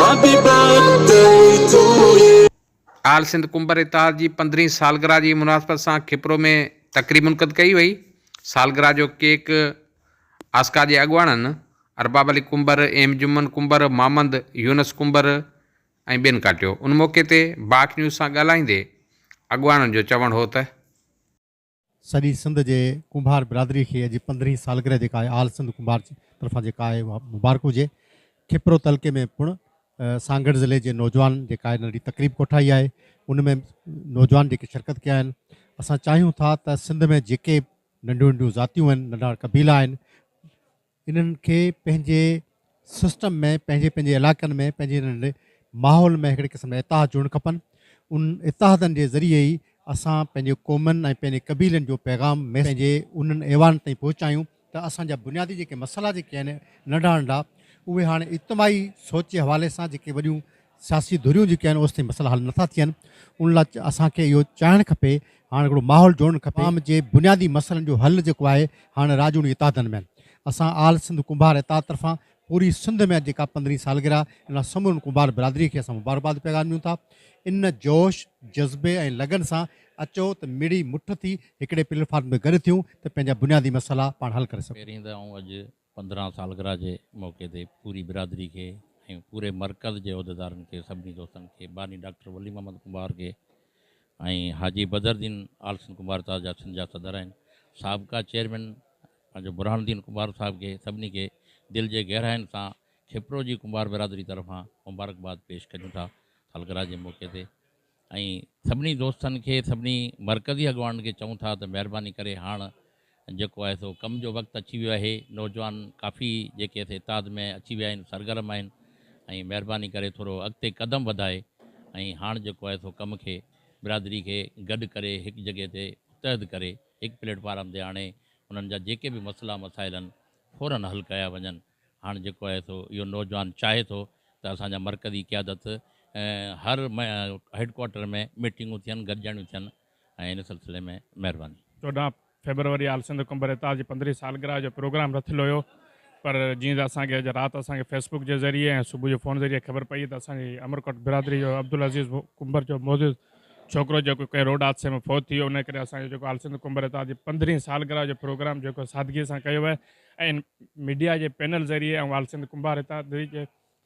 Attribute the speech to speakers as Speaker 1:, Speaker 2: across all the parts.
Speaker 1: Happy birthday to you. All Sindh Kumbhar اتحاد جي پندرهين سالگرهه جي مناسبت سان کپرو ۾ تقريب منعقد ڪئي وئي، سالگرهه جو ڪيڪ آسڪا جي اڳواڻن ارباب علي ڪنڀر، ايم جمن ڪنڀر، مامند يونس ڪنڀر ۽ ٻين ڪاٽيو، ان موقعي تي باک نيوز سان ڳالهائيندي اڳواڻن جو چوڻ هو ته.
Speaker 2: سڄي سنڌ جي ڪنڀار برادري کي اڄ پندرهين سالگرهه جي ڪاهي آل سنڌ ڪنڀار طرفان جي ڪاهي اها مبارڪ هجي کپرو تعلقي ۾ پڻ سانگهڙ ضلعي جي نوجوانن جي ڪاهي ننڍي تقريب ڪوٺائي آهي ان ۾ نوجوان جيڪي شرڪت ڪيا آهن اسان چاهيون ٿا ته سنڌ ۾ جيڪي ننڍيون ننڍيون ذاتيون آهن ننڍا قبيلا آهن انهن کي پنهنجي سسٽم ۾ پنهنجي پنهنجي علاقن ۾ پنهنجي انهن ماحول ۾ هڪڙي قسم جا اتحاد جوڙڻ کپن ان اتحادن جي ذريعي ئي اسان پنهنجي قومن ۽ پنهنجي قبيلن جو پيغام ميسيج پنهنجي انهن ايوانن تائين پهچايون ته اسان جا بنيادي جيڪي مسئلا جيڪي آهن ننڍا ننڍا اهي هاڻي اجتماعي سوچ جي حوالي سان جيڪي وڏيون سياسي ڌريون جيڪي آهن اوستائين مسئلا حل نٿا ٿين ان لاء اسان کي اهو چاهڻ کپي هاڻ هڪڙو ماحول جوڙڻ کپي عوام جي بنيادي مسئلن جو حل جيڪو آهي هاڻ راڄوڻي اتحادن ۾ آهن اسان آل سنڌ ڪنڀار اتحاد طرفان پوري سنڌ ۾ اڄ جيڪا پندرهين سالگرهه ان لاء سمورن ڪنڀار برادري کي اسان مبارڪباد پيغام ڏيون ٿا ان جوش جذبي ۽ لگن سان اچو ته مڙئي مٺ ٿي هڪڙي پليٽ فارم تي گڏ ٿيون ته پنهنجا بنيادي مسئلا پاڻ حل ڪري سگهون. پهرين ته آئون اڄ
Speaker 3: پندرهن سالگرهه جي موقعي تي پوري برادري کي ۽ پوري مرڪز جي عهديدارن کي سڀني دوستن کي باني ڊاڪٽر ولي محمد ڪنڀار کي ۽ حاجي بدرالدين آلسن ڪنڀار صاحب جا سنڌ جا صدر آهن سابقا چيئرمين پنهنجو برهان الدين ڪنڀار صاحب کي سڀني کي دل جي گهراين سان کپرو جي ڪنڀار برادري طرفان مبارڪباد پيش ڪريون ٿا سالگرهه جي موقعي تي ۽ سڀني دوستن کي سڀني مرڪزي اڳواڻن کي چئون ٿا ته مهرباني ڪري هاڻ جيڪو آهي سو ڪم جو وقت اچي ويو آهي نوجوان ڪافي جيڪي اسين اتحاد ۾ اچي ويا آهن سرگرم آهن ۽ مهرباني ڪري ٿورو اڳتي قدم وڌائي ۽ هاڻ جيڪو آهي سو ڪم کي برادري کي گڏ ڪري هڪ جڳهه تي متحد ڪري هڪ پليٽ فارم تي آڻي انهن جا جيڪي به مسئلا مسائل آهن فورن حل ڪيا وڃن. هاڻ جيڪو آهي سو اهو نوجوان چاهي ٿو ته اسان جا مرڪزي قيادت هر هيڊ ڪوارٽر ۾ ميٽنگون ٿين گڏجاڻيون ٿين ۽ ان سلسلي ۾ مهرباني. چوڏهن
Speaker 4: فيبروري آل سنڌ قنبر اتحاد جي پندرهين سالگرهه جو پروگرام رٿيل هيو پر جيئن ته اسان کي اڄ رات اسان کي فيسبڪ جي ذريعي ۽ صبح جو فون ذريعي خبر پئي ته اسان جي امرڪوٽ برادري جو عبدالعزيز قنبر جو معزز ڇوڪرو جيڪو ڪنهن روڊ حادثي ۾ فوت ٿي ويو انهي ڪري اسان جو جيڪو آل سنڌ قنبر اتحاد جي پندرهين سالگرهه جو پروگرام جيڪو سادگي سان ڪيو ويو ۽ ميڊيا جي پينل ذريعي آئون آل سنڌ ڪنڀار هتان دريج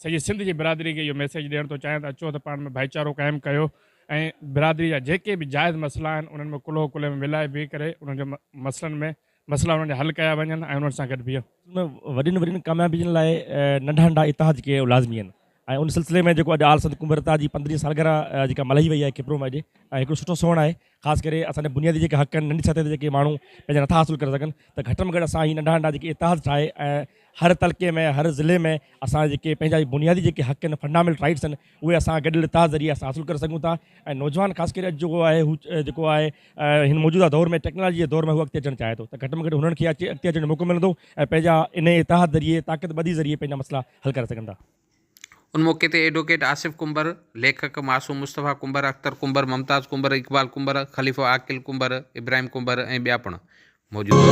Speaker 4: سڄي سنڌ جي برادري کي اهو ميسيج ڏيڻ ٿو چاهيان ته اچو ته پاڻ ۾ ڀائيچارو قائم ڪيو ۽ برادري جا جيڪي به جائز مسئلا آهن انهن ۾ ڪلهو ڪلهي ۾ ملائي بيهي ڪري انهن جي مسئلن ۾ مسئلا انهن جا حل ڪيا وڃن ۽ انهن سان گڏ بيهون. وڏين وڏين
Speaker 5: ڪاميابين لاء ننڍا ننڍا اتحاد ڪيئن لازمي آهن ۽ ان سلسلي ۾ جيڪو اڄ آل سنڌ ڪنڀرتا جي پندرهين سالگرهه جيڪا ملهائي وئي آهي کپرو ۾ اڄ ۽ هڪڙو سٺو سونهن آهي خاص ڪري اسان جا بنيادي جيڪا حق آهن ننڍي سطح تي جيڪي ماڻهو پنهنجا نٿا حاصل ڪري سگهن ته گهٽ ۾ گهٽ اسان هي ننڍا ننڍا جيڪي اتحاد ٺاهي ۽ هر تعلقي ۾ هر ضلعي ۾ اسان جا جيڪي پنهنجا هي بنيادي جيڪي حق آهن فنڊاميل رائيٽس آهن اهي اسان گڏيل اتحاد ذريعي اسان حاصل ڪري سگهون ٿا ۽ نوجوان خاص ڪري اڄ جيڪو آهي هو جيڪو آهي هن موجوده دور ۾ ٽيڪنالاجي جي دور ۾ هو اڳتي اچڻ چاهي ٿو ته گهٽ ۾ گهٽ هنن کي اچي اڳتي اچڻ جو موقعو ملندو ۽ پنهنجا انهيء اتحاد ذريعي طاقت ٻڌي ذريعي پنهنجا مسئلا حل ڪري سگهن ٿا. ان موقعي
Speaker 1: تي ايڊووڪيٽ آصف ڪنڀر، ليکڪ معصوم مصطفيٰ ڪنڀر، اختر ڪنڀر، ممتاز ڪنڀر، اقبال ڪنڀر، خليفو عاقل ڪنڀر، ابراهيم ڪنڀر ۽ ٻيا پڻ موجود هئا.